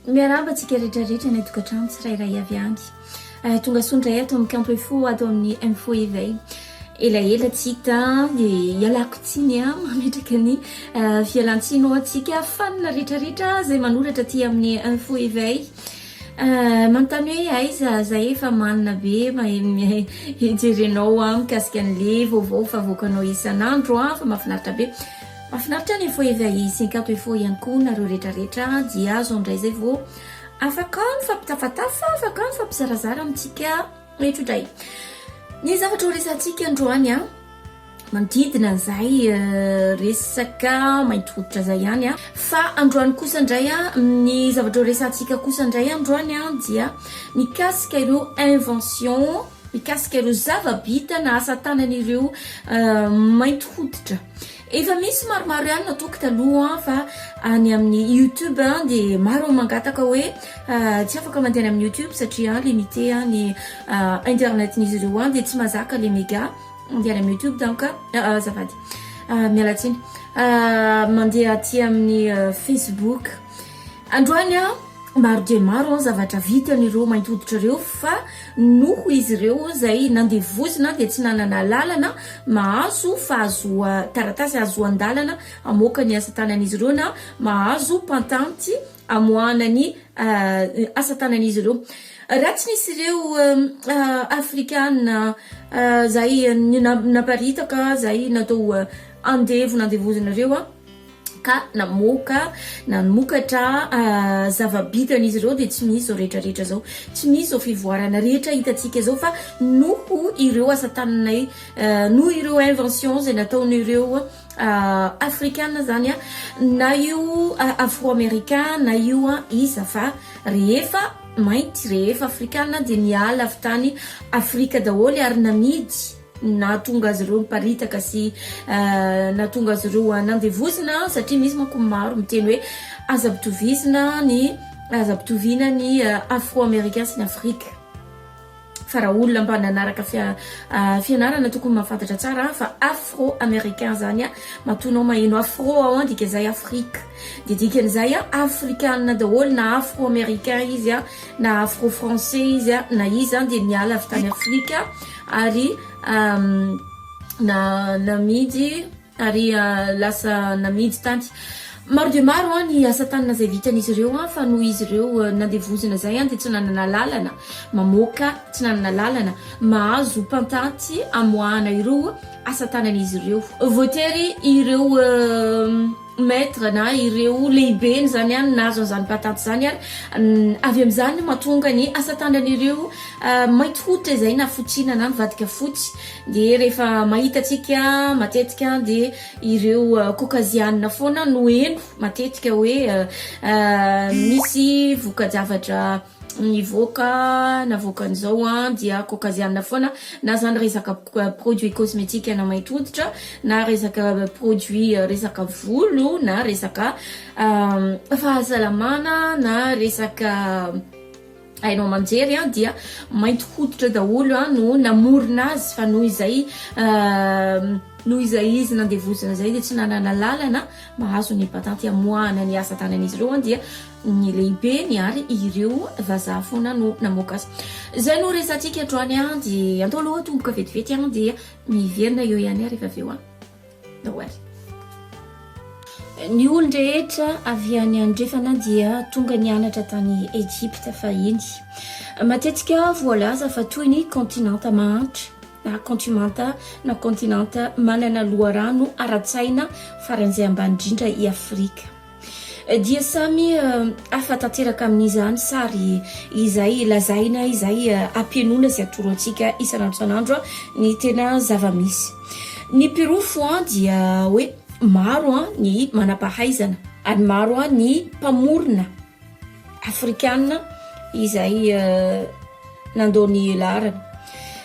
Miarahaba antsika rehetra rehetra any an-tokantrano tsirairay avy any. Eh, tonga soa indray ato amin'ny kanto info ato amin'ny info éveil. Elaela tsy hita dia ialako tsiny ah, mametraka ny eh, fialantsiny ho antsika fanina rehetra rehetra izay manoratra aty amin'ny info éveil. Manontany hoe aiza zay efa manina be mahay hijerenao aho mikasika an'le vaovao fa avoakanao isan'andro an, fa mahafinaritra be. Mahafinaritra ny info avy a'i Synkato info ihany koa nareo retraretra dia azo ndray zay vao afaka mifampitafatafa, afaka mifampizarazara amintsika retrodraya. Ny zavatra ho resahantsika androany an. Manodidina an'izay resaka mainty hoditra izay ihany an. Fa androany kosa indray an, ny zavatra horesahantsika kosa indray androany an, dia mikasika ireo invention, mikasika ireo zava-bita na asa tanan'ireo mainty hoditra. Efa misy maromaro ihany nataoko taloha an, fa any amin'ny youtube an dia maro no mangataka hoe tsy afaka mandeha any amin'ny youtube satria limite ny internet-n'izy ireo any dia tsy mahazaka ilay mega. Mandeha any amin'ny youtube donc azafady. Miala tsiny. Mandeha aty amin'ny facebook. Androany maro dia maro ny zavatra vitan'ireo mainty hoditra ireo fa noho izy ireo izay nandevozina dia tsy nanana alalana mahazo fahazoa- taratasy hahazoan-dalana hamoaka ny asa tanan'izy ireo na mahazo patenty. hamoahana ny asa tanan'izy ireo. Raha tsy nisy ireo Afrikana izay naparitaka, izay natao andevo nandevozina ireo ka namoaka nanomokatra zava-bitan'izy ireo dia tsy misy izao rehetrarehetra izao, tsy misy izao fivoarana rehetra hitantsika izao fa noho ireo asa tananay, noho ireo inventions izay nataon'ireo. afrikana zany an, na io afro americain na io an, iza fa rehefa mainty, rehefa afrikana dia niala avy tany afrika daholo ary namidy nahatonga azy ireo niparitaka sy nahatonga azy ireo nandevozina satria misy manko ny maro miteny hoe aza ampitovizina ny, aza ampitoviana ny afro americain sy ny afrika. fa raha olona mba nanaraka fianarana tokony mahafantatra tsara an, fa afro americain zany an, matoa anao maheno afro ao an, dika izay afrika, dia dikan'izay an, afrikana daholo na afro americain izy an, na afro français izy an, na izy zany dia niala avy tany afrika ary namidy ary lasa namidy tany. Maro dia maro ny asa tanana izay vitan'izy ireo fa noho izy ireo nandevozina izay dia tsy nanana lalana mamoaka, tsy nanana lalana mahazo mpantatsy amoahana ireo asa tanan'izy ireo. Voatery ireo maître na ireo lehibeny izany an nahazo an'izany mpantatsy izany ary avy amin'izany no mahatonga ny asa tanan'ireo mainty hoditra izay na fotsiana na nivadika fotsy. Dia rehefa mahita antsika matetika dia ireo euh, kokazianina foana no heno matetika hoe euh, euh, misy voka-javatra nivoaka navoakan'izao a dia kokazianina foana na zany resaka produit cosmétique na maître hoditra na resaka produit resaka volo na resaka fahasalamana na resaka Haino aman-jery an dia mainty hoditra daholo an no namorona azy fa noho izay noho izay izy nandevozina izay dia tsy nanana lalana mahazo ny patanty hamoahana ny asa tanan'izy ireo an dia ny lehibeny ary ireo vazaha foana no namoaka azy izay no resatsika hatroany an dia antao aloha tomboka vetivety an dia miverina eo ihany ary efa avy eo an Noel. Ny olon-drehetra avy any andrefana dia tonga nianatra tany Ejipta fahiny. Matetika voalaza fa toy ny kontinanta mahantra na kontimanta na kontinanta manana loharano ara-tsaina faran'izay ambany indrindra i Afrika. dia samy hafa tanteraka amin'izany sary izay lazaina izay ampienoina sy atoro antsika isan'andro isan'andro ny tena zava-misy. Ny pirofo an dia hoe maro an ny manam-pahaizana ary maro an ny mpamorona. Afrikana izay nandao ny laharana.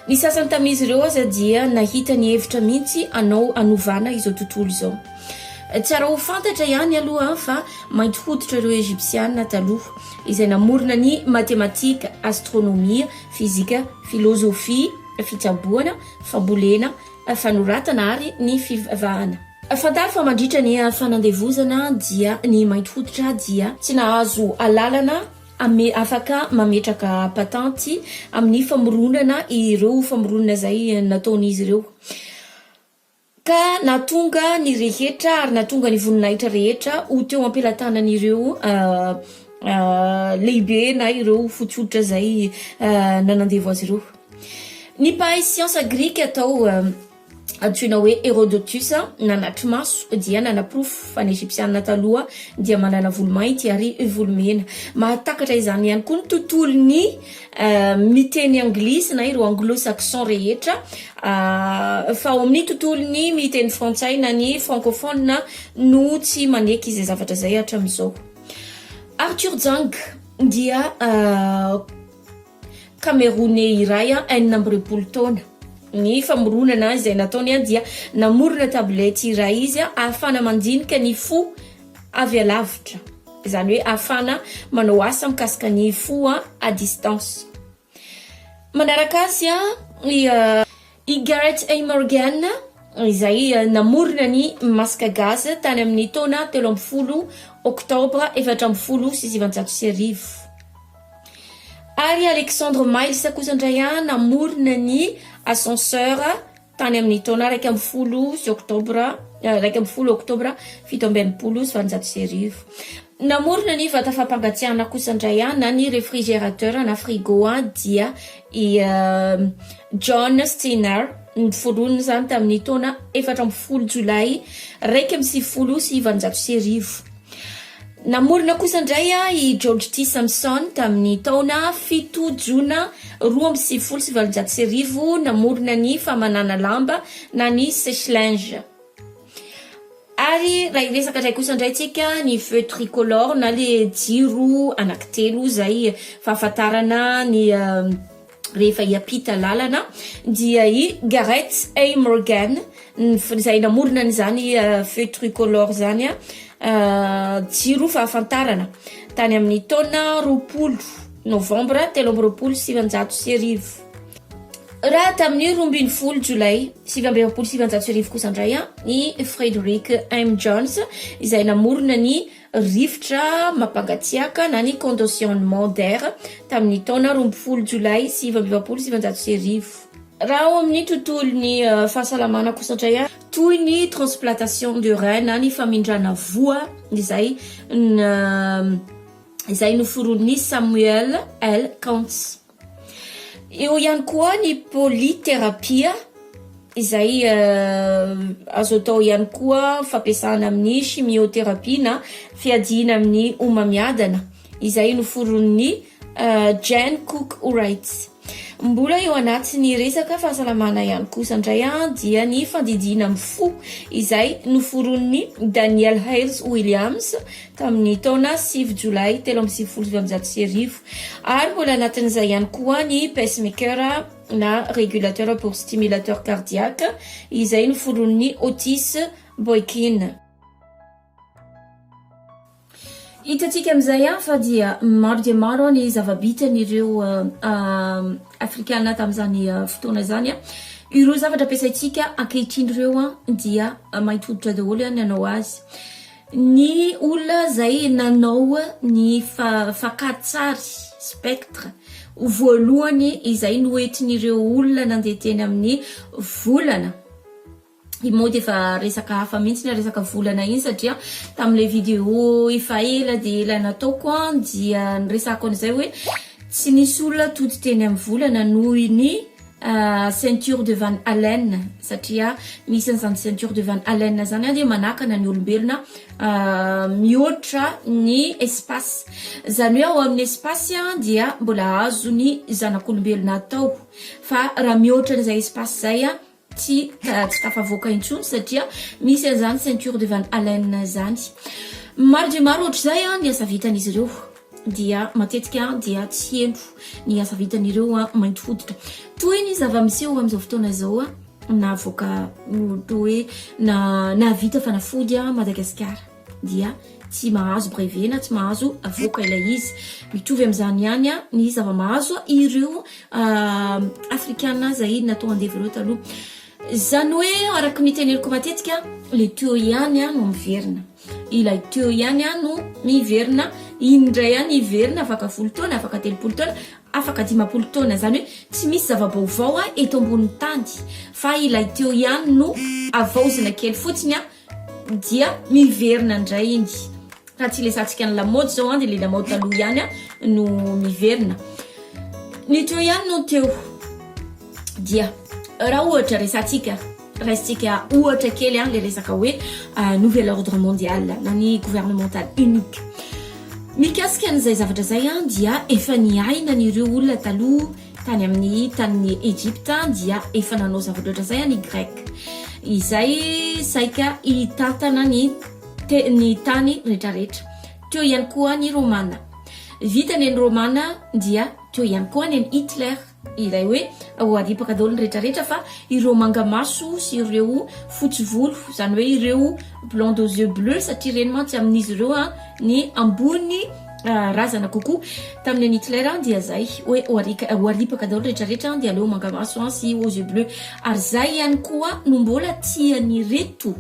Ny sasany tamin'izy ireo aza dia nahita ny hevitra mihitsy hanao hanovana izao tontolo izao. Tsara ho fantatra ihany aloha fa mainty hoditra ireo Ejipsiana taloha izay namorona ny matematika, astronomia, fizika, filozofia, fitsaboana, fambolena, fanoratana ary ny fivavahana. Fantaro fa mandritra ny fanandevozana dia ny mainty hoditra dia tsy nahazo alalana ame afaka mametraka patenty amin'ny famoronana ireo famoronana izay nataon'izy ireo ka nahatonga ny rehetra ary nahatonga ny voninahitra rehetra ho teo am-pelatanan'ireo lehibe na ireo fotsy hoditra izay nanandevo azy ireo. Ny mpahay siansa grika atao antsoina hoe Herodotus nanatri-maso dia nanaporofo fa ny Egyptiana taloha dia manana volo mainty ary volo mena. Mahatakatra izany ihany koa ny tontolon'ny miteny anglisy na ireo anglo-saxon rehetra fa ao amin'ny tontolon'ny miteny frantsay na ny francophone no tsy maneky izay zavatra izay hatramin'izao. Arthur Jang dia Kameroney iray enina amby roapolo taona. Ny famoronana izay nataony dia namorona tablety iray izy ahafahana mandinika ny fo avy alavitra, izany hoe ahafahana manao asa mikasika ny fo à distance. Manaraka azy i. I Garrett A. Morgan, izay namorona ny masque gaze tany amin'ny taona telo ambin'ny folo Oktobra efatra ambin'ny folo sy sivanjato sy arivo. Ary i Alexander Miles kosa indray namorona ny ascenseur tany amin'ny taona iraika ambin'ny folo sy Oktobra, iraika ambin'ny folo Oktobra fito amby enimpolo sy valonjato sy arivo. Namorona ny vata fampangatsiahana kosa indray aho na ny réfrigérateur na frigo aho dia i John Steiner niforonina izany tamin'ny taona efatra ambin'ny folo jolay iraika amby sivifolo sy valonjato sy arivo. Namorona kosa indray aho i George T. Samson tamin'ny taona fito jona roa amby sivifolo sy valonjato sy arivo namorona ny famanana lamba na ny sèche-linge. Ary raha hiresaka indray kosa indray tsika ny feu tricolore na le jiro anaky telo izay fahafantarana ny rehefa hiampita lalana dia i Gareth A. Morgan izay namorona an'izany feu tricolore izany jiro fahafantarana tany amin'ny taona roapolo novambra telo amby roapolo sy sivinjato sy arivo. Raha tamin'ny roa ambin'ny folo Jolay sivy amby efapolo sy sivinjato sy arivo kosa indray an, i Frederick M. Jones izay namorona ny rivotra mampangatsiaka na ny conditionnement d'air tamin'ny taona roa ambin'ny folo Jolay sivy amby efapolo sy sivinjato sy arivo. Raha ao amin'ny tontolon'ny eh, fahasalamana kosa indray an, toy ny transplantation de rein na ny famindrana voa izay na- izay noforonin'i Samuel L. Kantz. Eo ihany koa ny polythérapie izay azo atao ihany koa fampiasana amin'ny chimiothérapie na fiadiana amin'ny homamiadana izay noforon'ny Jane Cook Wrights. Mbola eo anatin'ny resaka fahasalamana ihany kosa indray dia ny fandidiana amin'ny fo izay noforon'ny Daniel Hales Williams tamin'ny taona sivy Jolay telo amby sivifolo sy valonjato sy arivo, ary mbola anatin'izay ihany koa ny pacemaker na régulateur pour stimulateur cardiaque izay noforonin'i Otis Boykin. Hitantsika amin'izay fa dia maro dia maro ny zava-bitan'ireo Afrikana tamin'izany fotoana izany. Ireo zavatra ampiasaintsika ankehitriny ireo dia mainty hoditra daholo ny hanao azy. Ny olona izay nanao ny fakan-tsary, spectre, ho voalohany izay noentin'ireo olona nandeha teny amin'ny volana. Io moa dia efa resaka hafa mihitsy ilay resaka volana iny satria tamin'ilay vidéo efa ela dia ela nataoko dia niresahako an'izay hoe tsy nisy olona tody teny amin'ny volana noho ny Ceinture de Van Halen satria misy an'izany Ceinture de Van Halen izany an dia manakana ny olombelona mihoatra ny espace. Izany hoe ao amin'ny espace an dia mbola azon'ny zanak'olombelona atao fa raha mihoatra an'izay espace izay an tsy tsy tafavoaka intsony satria misy an'izany Ceinture de Van Halen izany. Maro dia maro ohatr'izay an ny asa vitan'izy ireo. dia matetika dia tsy heno ny asa vitan'ireo mainty hoditra. Toy ny zava-miseho amin'izao fotoana izao navoaka toa hoe na nahavita fanafody Madagasikara dia tsy mahazo brevet na tsy mahazo avoaka ilay izy. Mitovy amin'izany ihany ny zava-mahazo ireo afrikana izay natao andevo ireo taloha. Izany hoe araka ny teneniko matetika le tuyau ihany no miverina. Ilay tuyau ihany an no miverina, iny indray ihany hiverina afaka folo taona, afaka telopolo taona, afaka dimampolo taona. Izany hoe tsy misy zava-baovao eto ambonin'ny tany fa ilay tuyau ihany no avaozina kely fotsiny an dia miverina indray iny. Raha tsy lesantsika ny lamaody izao an dia ilay lamaody taloha ihany an no miverina. Ny tuyau ihany no teo. Dia raha ohatra resatsika. Raisintsika ohatra kely ilay resaka hoe nouvel ordre mondial na ny gouvernemental unique. Mikasika an'izay zavatra izay dia efa niaina an'ireo olona taloha tany amin'ny tanin'ny Egypta dia efa nanao zavatra ohatr'izay ny Grec izay saika hitantana ny te- ny tany rehetrarehetra. Teo ihany koa ny Romana. Vitany ny Romana dia teo ihany koa ny Hitler. Ilay hoe ho adipaka daholo ny rehetra rehetra fa ireo manga maso sy ireo fotsy volo izany hoe ireo blonde aux yeux bleu satria ireny mantsy amin'izy ireo a ny ambony razana kokoa tamin'ny an'i Hitler dia izay hoe ho arika ho aripaka daholo rehetra rehetra dia aleo manga maso an sy aux yeux bleu ary izay ihany koa no mbola tian'ireto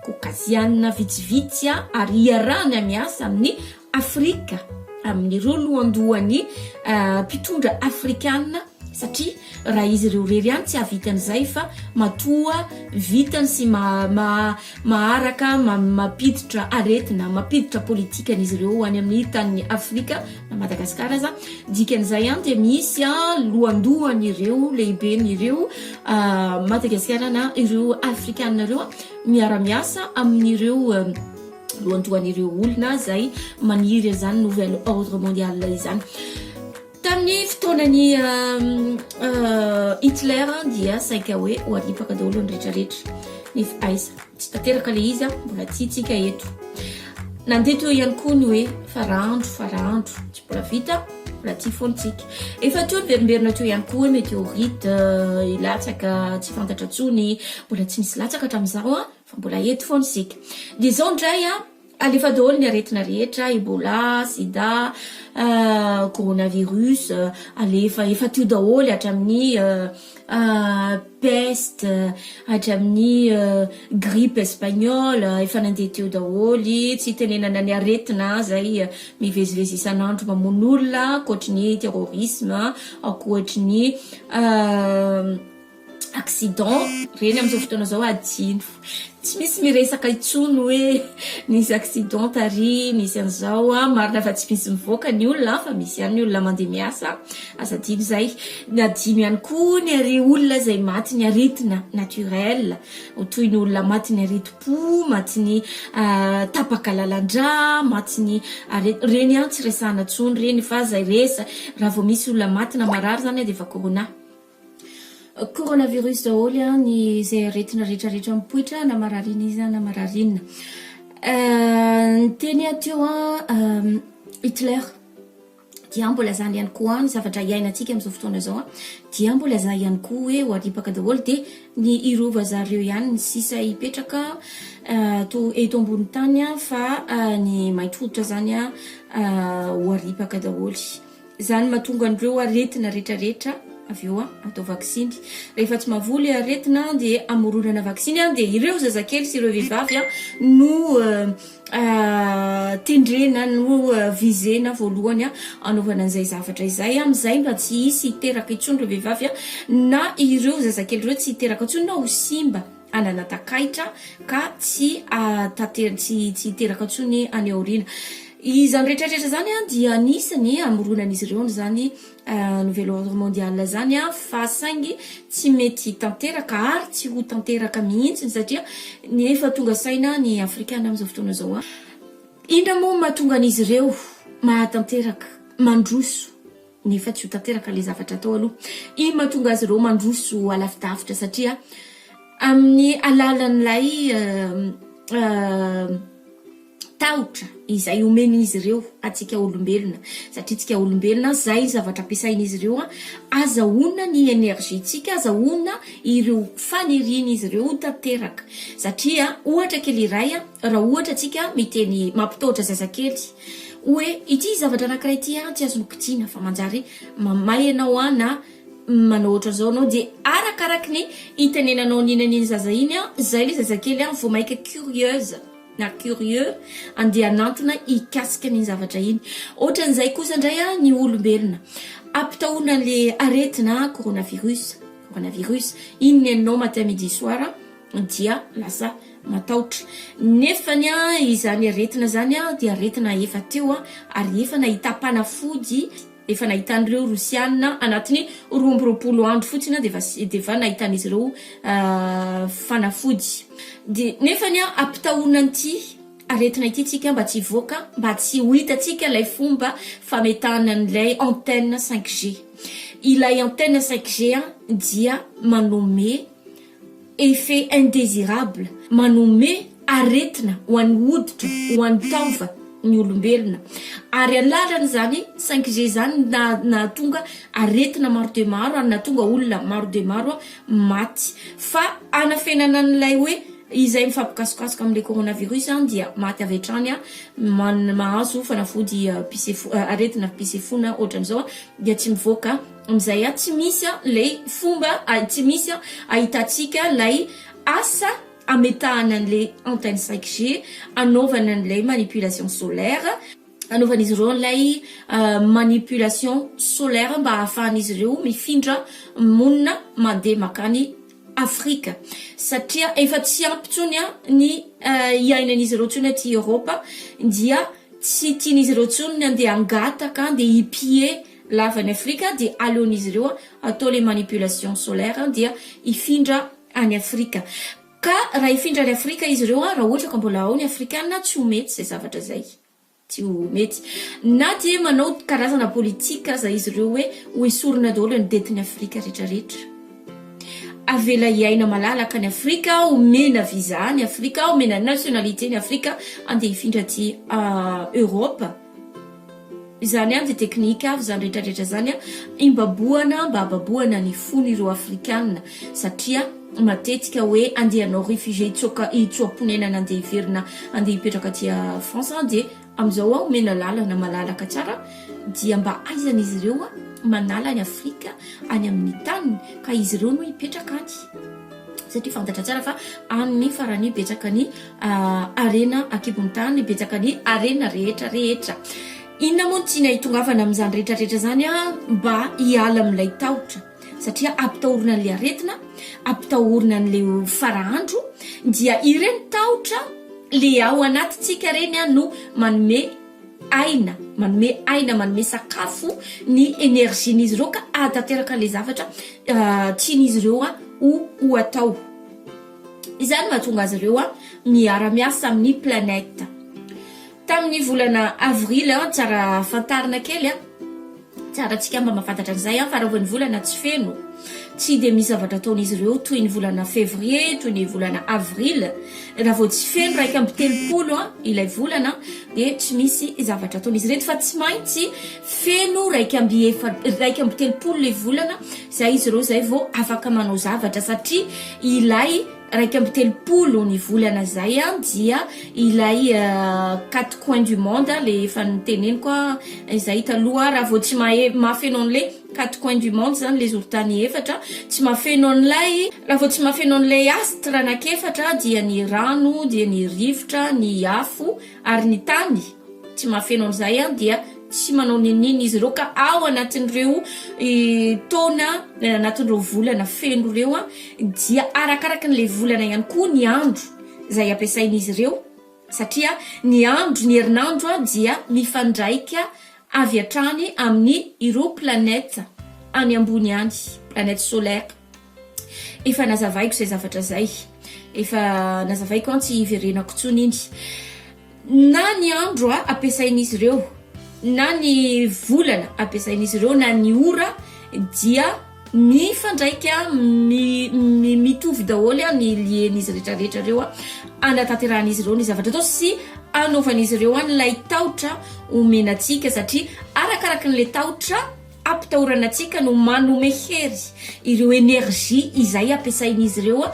Caucasiana vitsivitsy a ary iarahany miasa amin'ny Afrika amin'ireo lohandohan'ny mpitondra afrikana satria raha izy ireo irery ihany tsy hahavita an'izay fa matoa vitany sy maharaka mampiditra aretina mampiditra politika an'izy ireo ho any amin'ny tanin'ny Afrika na Madagasikara aza dikan'izay ihany dia misy lohandohan'ireo lehiben'ireo Madagasikara na ireo afrikana ireo miara-miasa amin'ireo lohandohan'ireo olona izay maniry an'izany nouvel ordre mondial izany. Tamin'ny fotoanan'i Hitler dia saika hoe ho aripaka daholo ny rehetrarehetra. Nefa aiza? Tsy tanteraka ilay izy, mbola tsy hitsika eto. Nandeha teo ihany koa ny hoe farandro, farandro, tsy mbola vita, mbola tsy fontsika. Efa teo niverimberina teo ihany koa hoe météorite, hilatsaka tsy fantatra intsony, mbola tsy misy latsaka hatramin'izao. Fa mbola eto foana isika. Dia izao indray an, alefa daholo ny aretina rehetra, Ebola, Sida, Coronavirus, alefa, efa teo daholo hatramin'ny Peste, hatramin'ny Grippe Espagnole, efa nandeha teo daholo, tsy hitenenana ny aretina izay mivezivezy isan'andro mamono olona, ankoatry ny terrorisme, ankoatry ny accident reny amzao fotoana zao adino tsy misy miresaka itsony oe nisy accident tary misy anzao a marina fa tsy misy mivoaka ny olona fa misy iany ny olona mande miasa aza dino zay ny adino iany koa ny ary olona zay maty ny aretina naturel otoy ny olona maty ny aretim-po maty ny ah, tapaka lalandra maty ny aret reny iany tsy resahana tsony reny fa zay resa raha vao misy olona maty na marary zany a de efa corona Coronavirus daholo an, ny izay aretina rehetra rehetra mipoitra na mararina iza na mararina. Niteny aho teo an, Hitler dia mbo lazany ihany koa an, ny zavatra iainantsika amin'izao fotoana izao an, dia mbo lazany ihany koa hoe ho aripaka daholo dia ny hirova zareo ihany ny sisa hipetraka to eto ambony tany an fa ny mainty hoditra izany an ho aripaka daholo. Izany no mahatonga an'ireo aretina retraretra avy eo atao vaksiny. Rehefa tsy mahavoa ilay aretina dia amoronana vaksiny dia ireo zazakely sy ireo vehivavy no tendrena no visena voalohany anaovana an'izay zavatra izay. Amin'izay mba tsy hisy hiteraka intsony ireo vehivavy na ireo zazakely ireo tsy hiteraka intsony na ho simba. hanana takaitra ka tsy hatater- tsy tsy hiteraka intsony any aoriana. Izany rehetrarehetra izany a dia anisan'ny hamoronan'izy ireo an'izany nouvel ordre mondial izany a fa saingy tsy mety hitanteraka ary tsy ho tanteraka mihitsy satria ny efa tonga saina ny afrikana amin'izao fotoana izao a. Inona moa no mahatonga an'izy ireo mahatanteraka, mandroso? nefa tsy ho tanteraka ilay zavatra atao aloha. Iny mahatonga azy ireo mandroso alavidavitra satria amin'ny alalan'ilay tahotra izay omen'izy ireo atsika olombelona satria tsika olombelona zay ny zavatra ampiasain'izy ireo a azahoana ny énergie-tsika azahoana ireo fanirian'izy ireo tanteraka satria ohatra kely iray a raha ohatra atsika miteny mampitaotra zazakely Hoe ity zavatra anankiray ity an tsy azon'ny kitiana fa manjary mamaly anao an na manao ohatran'izao anao dia arakaraky ny itenenanao an'iny an'iny zaza iny an zay le zazakely an vao maika curieuse na curieux andeha hanantona hikasika an'iny zavatra iny ohatran'izay kosa indray an ny olombelona ampitahona an'le aretina coronavirus coronavirus iny ny anao matin midi soir dia lasa matahotra. Nefa ny izany aretina izany dia aretina efa teo ary efa nahita mpanafody, efa nahitan'ireo Rosiana anatin'ny roa amby roapolo andro fotsiny dia efa dia efa nahitan'izy ireo fanafody. Dia nefa ny ampitahonina an'ity aretina ity tsika mba tsy hivoaka, mba tsy ho hitantsika ilay fomba fametahana an'ilay antenne 5G. Ilay antenne 5G dia manome. effets indésirables, manome aretina ho an'ny hoditra, ho an'ny taova, ny olombelona. Ary alalany izany, saingy ze izany nahatonga aretina maro dia maro ary nahatonga olona maro dia maro maty. Fa hanafenana an'ilay hoe izay mifampikasokasoka amin'ilay coronavirus izany dia maty avy hatrany, mahazo fanafody pise-fo, aretina pise-fo na ohatran'izao dia tsy mivoaka. Amin'izay a tsy misy a lay fomba a tsy misy a ahitantsika lay asa ametahana an'le antenne 5G anaovana an'ilay manipulation solaire, anaovan'izy ireo an'ilay manipulation solaire mba ahafahan'izy ireo mifindra monina mandeha makany Afrika satria efa tsy ampy intsony a ny iainan'izy ireo intsony aty Europe dia tsy tian'izy ireo intsony ny andeha hangataka andeha hi-piller lava any afrika dia aleon'izy ireo atao le manipulation solaire dia hifindra any afrika ka raha hifindra any afrika izy ireo raha ohatra ka mbola ao ny afrikana tsy ho mety izay zavatra zay tsy ho mety na dia manao karazana politika aza izy ireo hoe ho esorina daholo ny detin'ny afrika retraretra avela hiaina malalaka any afrika omena visa any afrika omena nationalité ny afrika andeha hifindra aty ah, europe Izany any dia teknika avy izany rehetra rehetra izany an, imbabohana mba hababohana ny fon ireo afrikana satria matetika hoe andeha anao réfugié hitsoaka hitsoaponenana andeha hiverina andeha hipetraka aty France an dia amizao an omena lalana malalaka tsara an dia mba aizana izy ireo an manala an'i afrika any amin'ny taniny ka izy ireo no hipetraka any satria fantatra tsara fa any farany betsaka ny harena ankibon'ny tany betsaka ny harena rehetra rehetra inona moa ny tiana hitongavana amin'izany rehetra rehetra izany a mba hiala amin'ilay tahotra satria ampitahorina an'ilay aretina ampitahorina an'ilay farahandro dia ireny tahotra le ao anatintsika ireny a no manome aina manome aina manome sakafo ny energian'izy ireo ka ahatanteraka ilay zavatra tian'izy ireo a ho ho atao Izany no hahatonga azy ireo miara-miasa amin'ny planète. Tamin'ny volana avrily, tsara fantarina kely, tsara antsika mba mahafantatra an'izay, fa raha vao ny volana tsy feno, tsy dia misy zavatra ataon'izy ireo toy ny volana février, toy ny volana avrily. Raha vao tsy feno iraika amby telopolo ilay volana, dia tsy misy zavatra ataon'izy ireto, fa tsy maintsy feno iraika amby efa- iraika amby telopolo ilay volana. Izay izy ireo izay vao afaka manao zavatra satria ilay iraika amby telopolo ny volana izay dia ilay quatre coins du monde le efa noteneniko izay taloha raha vao tsy mahe- mahafeno an'ilay quatre coins du monde izany ilay zoron-tany efatra tsy mahafeno an'ilay raha vao tsy mahafeno an'ilay astre anankiefatra dia ny rano dia ny rivotra ny afo Ary ny tany tsy mahafeno an'izay dia tsy manao n'inon'inona izy ireo ka ao anatin'ireo taona anatin'ireo volana feno ireo dia arakaraka an'ilay volana ihany koa ny andro izay ampiasain'izy ireo satria ny andro ny herinandro dia mifandraika avy hatrany amin'ny ireo planète any ambony any, planète solaire. Efa nazavaiko izay zavatra izay. Efa nazavaiko an tsy hiverenako intsony iny. Na ny andro a ampiasain'izy ireo, na ny volana ampiasain'izy ireo, na ny ora dia mifandraika mi- mi- mitovy daholo a ny lien'izy rehetrarehetra ireo a anatanterahan'izy ireo ny zavatra atao sy anaovan'izy ireo an ilay tahotra omena antsika satria arakaraky an'ilay tahotra Ampitahorana antsika no manome hery ireo energie izay ampiasain'izy ireo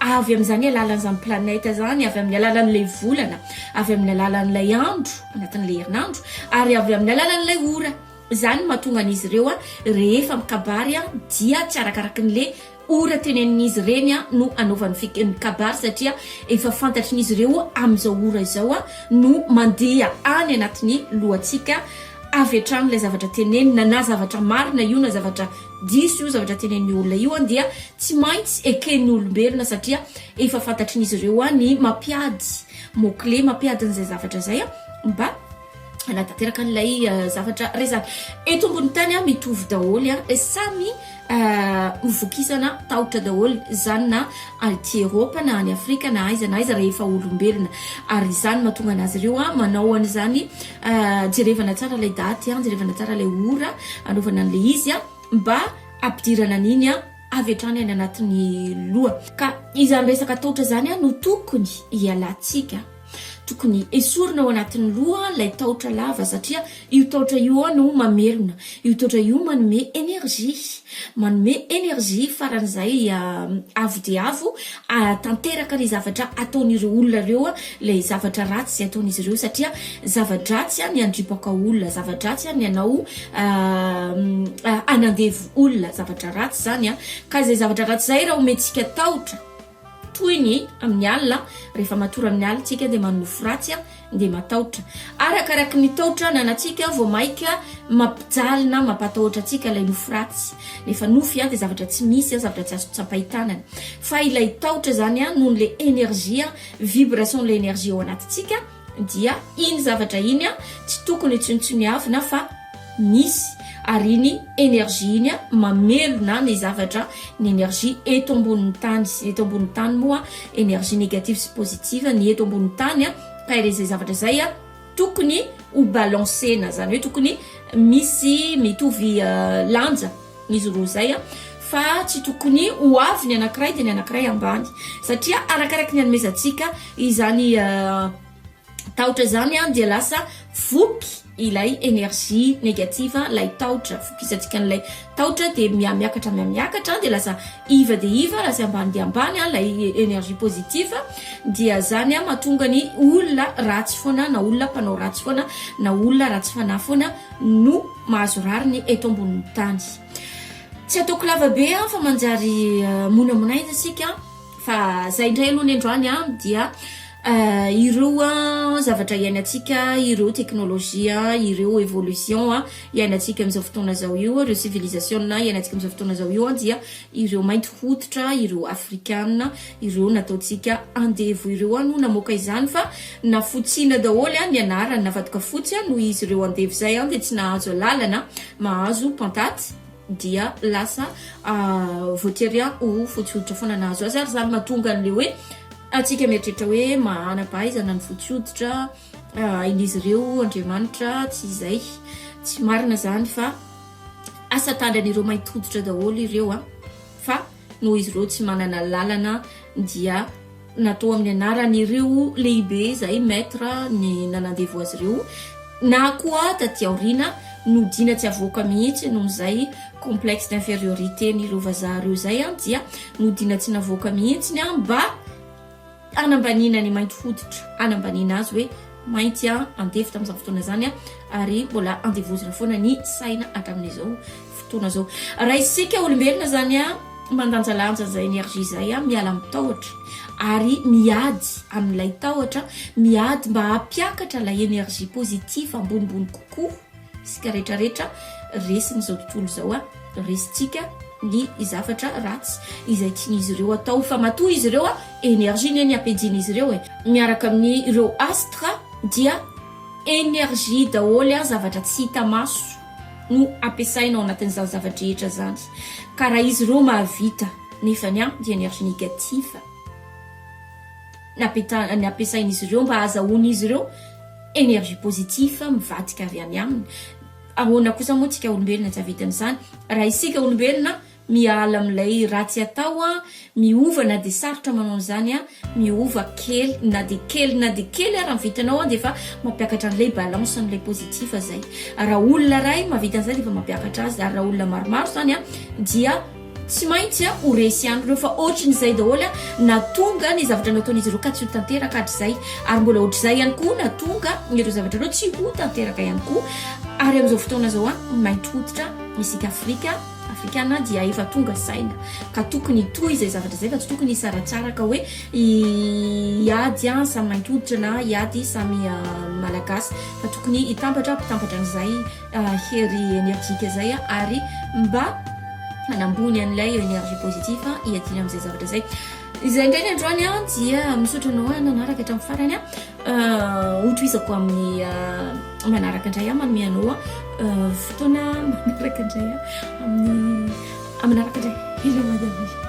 avy amin'izany alalan'izany planète izany, avy amin'ny alalan'ilay volana, avy amin'ny alalan'ilay andro, anatin'ilay herinandro, ary avy amin'ny alalan'ilay ora. Izany no mahatonga an'izy ireo rehefa mikabary dia tsy arakarakin'ilay. Ora tenenin'izy ireny no anaovany fekiny kabary satria efa fantatrin'izy ireo amin'izao ora izao no mandeha any anatin'ny lohantsika avy hatrany ilay zavatra tenenina na zavatra marina io na zavatra diso io zavatra tenenin'io olona io dia tsy maintsy eken'ny olombelona satria efa fantatrin'izy ireo ny mampiady mots clés mampiady an'izay zavatra izay mba hanatanteraka an'ilay zavatra resaka eto ambony tany a mitovy daholo a e samy hovokisana tahotra daholo zany na aty eropa na any afrika na aiza na aiza rehefa olombelona ary izany mahatonga an'azy ireo a manao an'izany jerevana tsara ilay daty a jerevana tsara ilay ora anaovana an'ilay izy a mba ampidirana an'iny a avy hatrany any anatin'ny loha ka izany resaka tahotra zany a no tokony hialantsika Tokony esorina ao anatin'ny loha ilay taotra lava satria io taotra io ao no mamelona. Io taotra io manome énergie. Manome énergie faran'izay avo dia avo ahatanteraka ny zavatra ataon'ireo olona ireo ilay zavatra ratsy izay ataon'izy ireo satria zava-dratsy ny handripaka olona, zava-dratsy ny hanao hanandevo olona, zavatra ratsy izany. Ka izay zavatra ratsy izay raha omentsika taotra. Toy ny amin'ny alina, rehefa matory amin'ny alina isika dia manonofy ratsy dia matahotra. Arakaraky ny tahotra ananantsika vao mainka mampijaly na mampatahotra antsika ilay nofy ratsy. Nefa nofy dia zavatra tsy misy, zavatra tsy azo tsapain-tanana. Fa ilay tahotra izany noho ilay energie, vibration-n'ilay energie ao anatintsika, Dia iny zavatra iny tsy tokony ho tsinontsiniavina fa misy, ary iny energie iny mamelona ny zavatra, ny energie eto ambonin'ny tany. Ny eto ambonin'ny tany moa energie négative sy positive, ny eto ambonin'ny tany ka ilay izay zavatra izay tokony ho balancer-na, izany hoe tokony misy mitovy lanja. izy roa izay a fa tsy tokony ho avy ny anankiray dia ny anankiray ambany satria arakaraky ny anomezantsika izany tahotra izany a dia lasa voky ilay énergie négative ilay tahotra vokisantsika an'ilay tahotra dia miamiakatra miamiakatra dia lasa iva dia iva lasa ambany dia ambany a ilay énergie positive dia zany a mahatonga ny olona ratsy foana na olona mpanao ratsy foana na olona ratsy fanahy foana no mahazo rariny eto ambonin'ny tany. Tsy ataoko lava be aho fa manjary eh, monamonaina isika fa zay indray aloha ny androany a dia eh, ireo a eh, zavatra iainantsika ireo teknolojia ireo évolution a iainantsika amin'izao fotoana zao io ireo civilisation iainantsika amin'izao fotoana zao io a dia ireo mainty hoditra ireo afrikana Ireo nataontsika andevo ireo an no namoaka izany fa nafotsina daholo an ny anarany navadika fotsy an noho izy ireo andevo zay an dia tsy nahazo alalana mahazo pantaty dia lasa voatery an ho fotsy hoditra foana nahazo azy ary zany mahatonga anle hoe atsika mieritreritra hoe mahana pahaizana ny fotsy hoditra hain'izy ireo Andriamanitra tsy izay tsy marina zany fa asa tandran'ireo mainty hoditra daholo ireo an fa Noho izy ireo tsy manana lalana dia natao amin'ny anaran'ireo lehibe izay maître ny nanandevo azy ireo na koa taty aoriana nodiana tsy avoaka mihitsy noho izay complexe d'infériorité n'ireo vazaha ireo izay dia nodiana tsy navoaka mihitsy ny mba hanambaniana ny mainty hoditra, hanambaniana azy hoe mainty an, andevo tamin'izany fotoana izany an, ary mbola andevozina foana ny saina hatramin'izao fotoana izao. Raha isika olombelona izany an, mandanjalanja izay énergie izay an, miala amin'ny tahotra ary miady amin'ilay tahotra, miady mba hampiakatra ilay énergie positive ambonimbony kokoa. isika rehetra rehetra resin'izao tontolo izao a resintsika ny zavatra ratsy izay tian'izy ireo atao fa matoa izy ireo a énergie ne ny apejian'izy ireo e miaraka amin'ny ireo astre dia énergie daholo a zavatra tsy hita maso no ampiasaina ao anatin'izany zavatra rehetra zany ka raha izy ireo mahavita nefany a dia énergie négative napetahana ny ampiasain'izy ireo mba hahazahoan'izy ireo énergie positive mivadika avy any aminy. Ahoana kosa moa tsika olombelona tsy hahavita an'izany? Raha isika olombelona miala amin'ilay ratsy atao, miova na dia sarotra manao an'izany, miova kely na dia kely na dia kely ary ny vitanao dia efa mampiakatra an'ilay balance an'ilay positif izay. Raha olona iray mahavita an'izay dia efa mampiakatra azy ary raha olona maromaro izany dia. Tsy maintsy ho resy ihany ireo fa ohatrin'izay daholo na tonga ny zavatra nataon'izy ireo ka tsy ho tanteraka hatrizay ary mbola ohatrizay ihany koa na tonga ireo zavatra ireo tsy ho tanteraka ihany koa ary amin'izao fotoana izao an mainty hoditra isika Afrika Afrikana dia efa tonga saina ka tokony hitohy izay zavatra izay fa tsy tokony hisaratsaraka hoe hiady an samy mainty hoditra na hiady samy malagasy fa tokony hitambatra mpitambatra an'izay hery enerjika zay ary mba hanambony an'ilay energie positif hiadiana amin'izay zavatra zay izay ndray ny androany an dia misaotra anao a nanaraka hatramin'ny farany a hotoizako amin'ny manaraka indray a manome anao a fotoana manaraka indray a amin'ny aminaraka indray hila madame